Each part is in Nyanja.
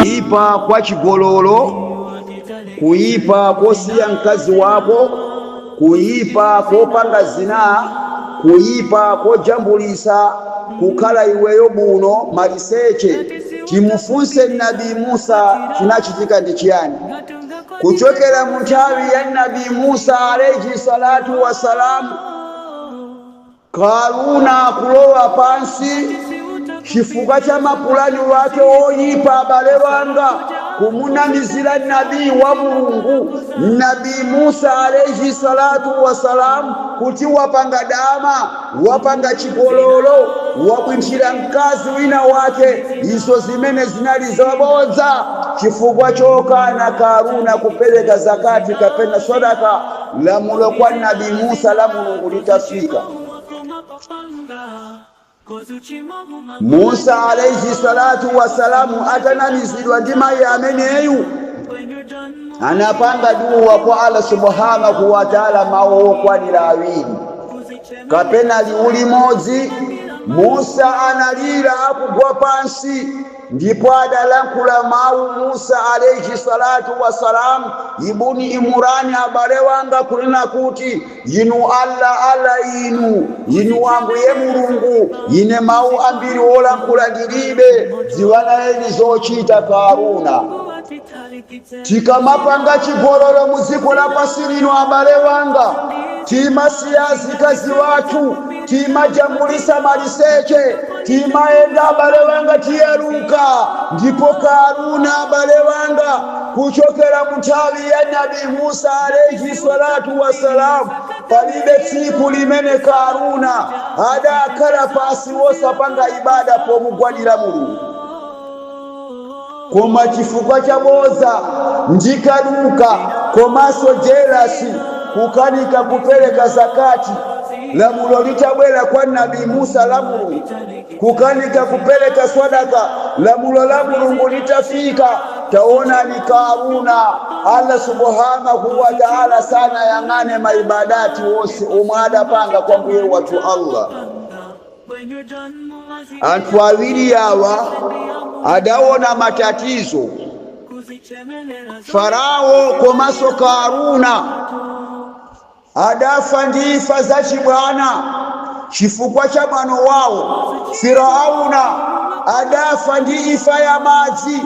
kuyipa kwa chigololo kuyipa kosiya mkazi wako kuyipa kopanga zina kuyipa kojambulisa kukhala iweyo buno maliseche timufunse nabi musa chinachitika ndi chiyani kuchokera mu nthawi ya nabi musa alaihi salatu wassalamu Karuna akulowa pansi chifukwa cha mapulani wake woyipa abale wanga kumunamizira nabii wa Mulungu Nabii Musa alaihi salatu wasalam kuti wapanga dama, wapanga chigololo, wabwinthira mkazi wina wake izo zimene zinali zabodza chifukwa chokana Karuna kupereka zakati kapena sadaka. Lamulo kwa Nabi Musa la Mulungu litafika, Musa alaihi salatu wasalamu atanamizidwa ndi mayi ameneyu anapanga duwa kwa Allah subhanahu wa taala mawu okwanira awiri kapena liwu limodzi. Musa analira akugwa pansi. Ndipo adalankhula mawu Musa alaihi swalatu wassalam, Ibuni Imurani abale wanga kunena kuti, Inu Allah, Allah Inu, Inu Ambuye Mulungu, ine mawu ambiri olankhula ndilibe, dziwani nayeni zochita Karuna. Tikamapanga chigololo mu dziko lapansi lino, abale wanga, timasiya azikazi wathu, timajambulisa maliseche, timayenda abale wanga tikuyaluka, ndipo Kaaruna abale wanga kuchokera mu nthawi ya Nabi Musa alaih salatu wasalam palibe tsiku limene Kaaruna adakhala pansi wosapanga ibada pomugwadira Mulungu. koma chifukwa cha bodza ndi kaduka komanso jelasi kukanika kupereka zakati lamulo litabwera kwa nabi musa la mulungu kukanika kupereka swadaka lamulo la mulungu litafika taonani karuna allah subhanahu wa taala sanayang'ane maibadati onse omwe adapanga kwa Ambuye wathu allah Anthu awiri awa adaona matatizo Farao komanso Karuna adafa ndi imfa zachibwana chifukwa cha mwano wawo. Firauna adafa ndi imfa ya madzi,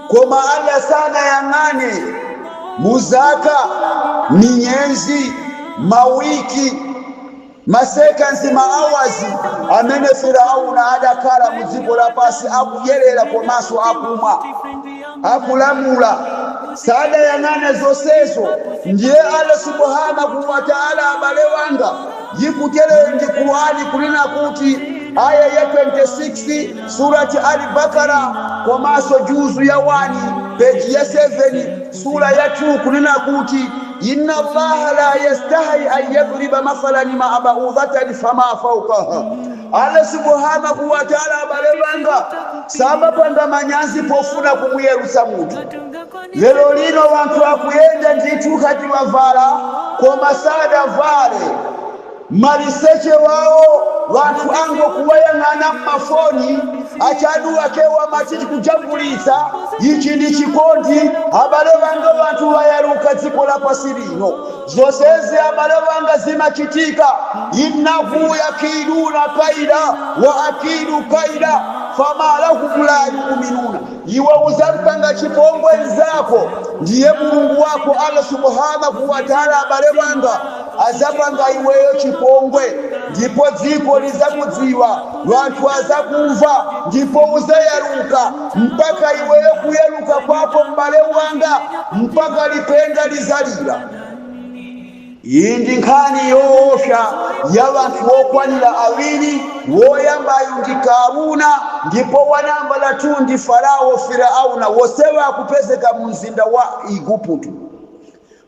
koma Allah sanayang'ane mu zaka, miyezi, mawiki Ma seconds, ma hours amene Firaun adakhala mu dziko lapansi akudyelera komanso akumwa, akulamula, sadayang'ane zonsezo. Ndiye Allah Subhaanahu wa Ta'ala abale wanga yikuteroyo ndi Qur'an kunena kuti Aayah ya 26 Surat Al-Baqarah komanso juzu ya 1 page ya 7, sura yathu kunena kuti inna allaha la yastahi an yadriba mathalan ma baudatan fama faukaha allah subhanahu wa taala abale banga samapanga manyazi pofuna kumuyalutsa munthu lero lino wanthu akuyenda ndithu ngati wavala koma sadavale Maliseche wawo wanthu ango kuwayang'ana mma foni, achadu akewo amati tikujambulitsa, ichi ndi chikondi, abale wanga wanthu wayaluka dziko lapasi lino, zosezi abale wanga zima chitika, innahu yakiduna kaida wa akidu kaida fama lahum la yuminuna. Iwe uzampanga chipongwe nzako ndiye Mulungu wako Allah Subhaanah wa Ta'ala abale wanga azapanga iweyo chipongwe ndipo dziko lizakudziwa wanthu azakumva ndipo uzayaluka mpaka iweyo kuyaluka kwako m'bale wanga mpaka lipenga lizalira. Iyi ndi nkhani yoopsa ya banthu okwanira awiri, woyambayu ndi Kaaruna ndipo wa nambala 2 ndi Farawo, Firaawuna, wonsewa akupezeka mu mzinda wa Iguputo.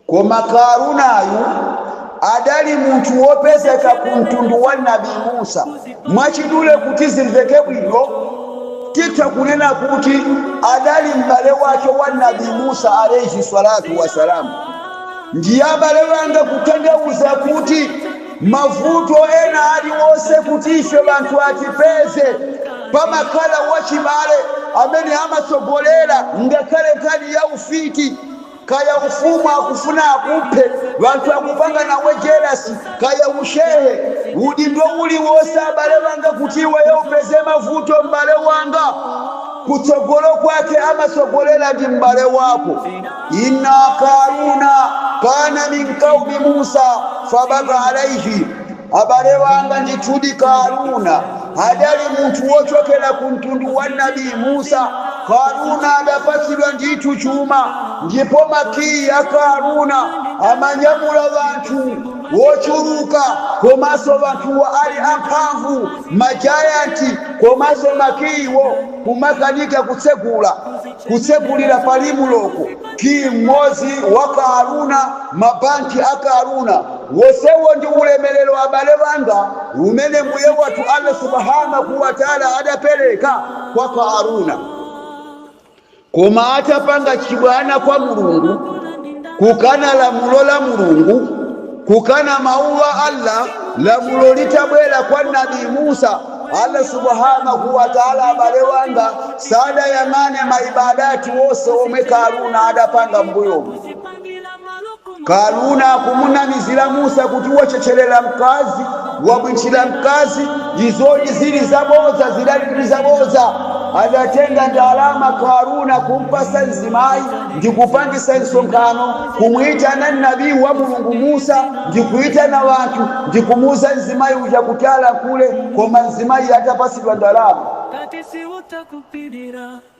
Koma Kaarunayu adali munthu wopezeka ku mtundu wa Nabi Musa. Mwachidule kuti zimveke bwino titha kunena kuti adali m'bale wake wa Nabi Musa alaih salatu wa salamu. Ndiye abale banga kutanthauza kuti mavuto ena aliwonse kuti ife banthu atipeze, pamakhala wachibale amene amatsogolera ngakhale nkhani ya ufiti, kaya chuma akufuna akuphe, banthu akupanga nawe jelasi, kaya ushehe, udindo uliwonse abale banga kuti iweyo upeze mavuto m'bale wanga kutsogolo kwake amatsogolera ndi m'bale wako. inna karuna kana min qaumi musa fabaga alaihi abale wanga ndithudi karuna adali munthu wochokera ku mtundu wa nabii musa karuna adapatsidwa ndithu chuma ndipo makiyi a karuna amanyamula vanthu wochuluka komanso vanthuwo ali amphamvu majayanti komanso makiyiwo kumakanika kutsegula Kutsekulira palibiretu ki mmodzi wa Karuna mabanki a Karuna. Wonsewu ndi ulemerero abale wanga umene Mbuye wathu Allah Subhaanahu Watala adapereka kwa Karuna. Koma atapanga chibwana kwa Mulungu, kukana lamulo la Mulungu, kukana mawu a Allah, lamulo litabwera kwa Nabii Musa, Allah Subhaanahu Watala abale wanga, sadayang'ane ma ibadat wose omwe Karuna adapanga m'mbuyomu. Karuna akumunamizira Musa kuti wachechelera mkazi, wabwitchira mkazi, izo zili zabodza, zidali zabodza. Adatenga ndalama Karuna kumpasa nzimayi ndikupangisa msonkhano, kumuitana Nabi wa Mulungu Musa ndikuitana wanthu ndikumuuza mzimayi uja kuti alankhule koma mzimayi atapasidwa ndalama.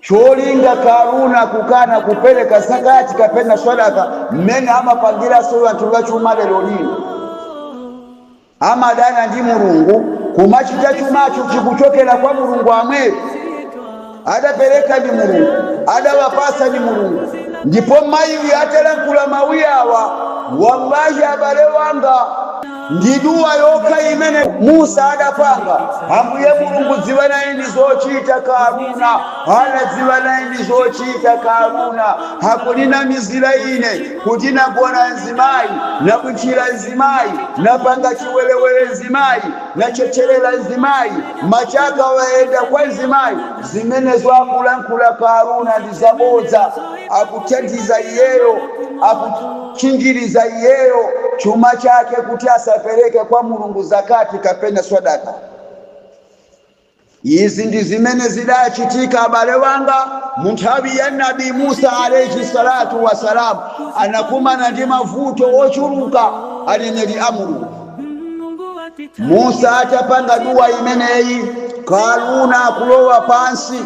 Cholinga Karuna kukana kupereka Zakati kapena Swadaka mmene amapangiranso anthu achuma lero lino. Amadana ndi Mulungu kumachita chumacho chikuchokera kwa Mulungu yemweyo. Adapereka ndi Mulungu, adawapatsa ndi Mulungu ndipo mayi uyu atalankhula mawu awa wallahi abale wanga. Ndi dua yokha imene Musa adapanga, Ambuye Mulungu dziwanani naye zochita Karuna, Allah dziwanani naye zochita Karuna, akundinamizira ine kuti nagona nzimayi, nabwitchira nzimayi, napanga chiwerewere nzimayi, nachechelera nzimayi, machaka wayenda kwa nzimayi, zimenezo akulankhula Karuna ndi zabodza, akuthandiza iyeyo, akut. kutchinjiriza iyeyo chuma chake kuti asapereke kwa Mulungu zakati kapena swadaka. Izi ndi zimene zidachitika abale wanga mu nthawi ya Nabi Musa alayhi salatu wassalam, anakumana ndi mavuto ochuluka aneneri a Mulungu. Musa atapanga duwa imeneyi, Karuna akulowa pansi.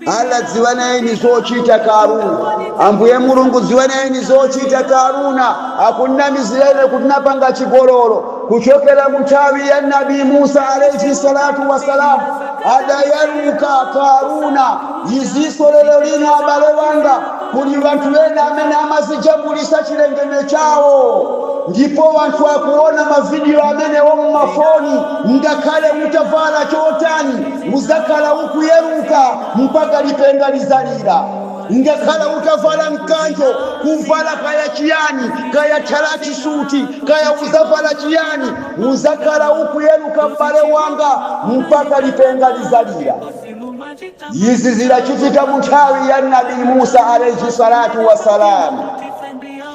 Allah dziwaneni zochita Karuna. Ambuye Mulungu dziwaneni zochita Karuna akunnamizira ine kuti napanga chigololo kuchokera mu nthawi ya Nabi Musa alayhi salatu wassalam adayaluka Karuna iziso lero lino abale wanga kuli wanthu ena amene amazijambulisa chilengedwe chawo ndipo wanthu akuona mavidiyo amenewo mmafoni ngakhale mutavala chotani Uzakhala ukuyaluka mpaka lipenga lizalira. Ungakhala utavala mkanjo, kuvala kaya chiyani, kaya tchalachi suti, kaya uzavala chiyani, uzakhala ukuyaluka m'bale wanga mpaka lipenga lizalira. Izi zidachitika munthawi ya Nabi Musa alaih salatu wa salaam.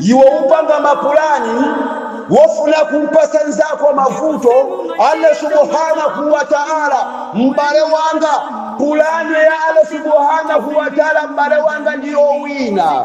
iwe upanga mapulani wofuna kumpasa nzako mavuto allah subhanahu wa taala m'bale wanga pulani ya allah subhanahu wa taala m'bale wanga ndiyowina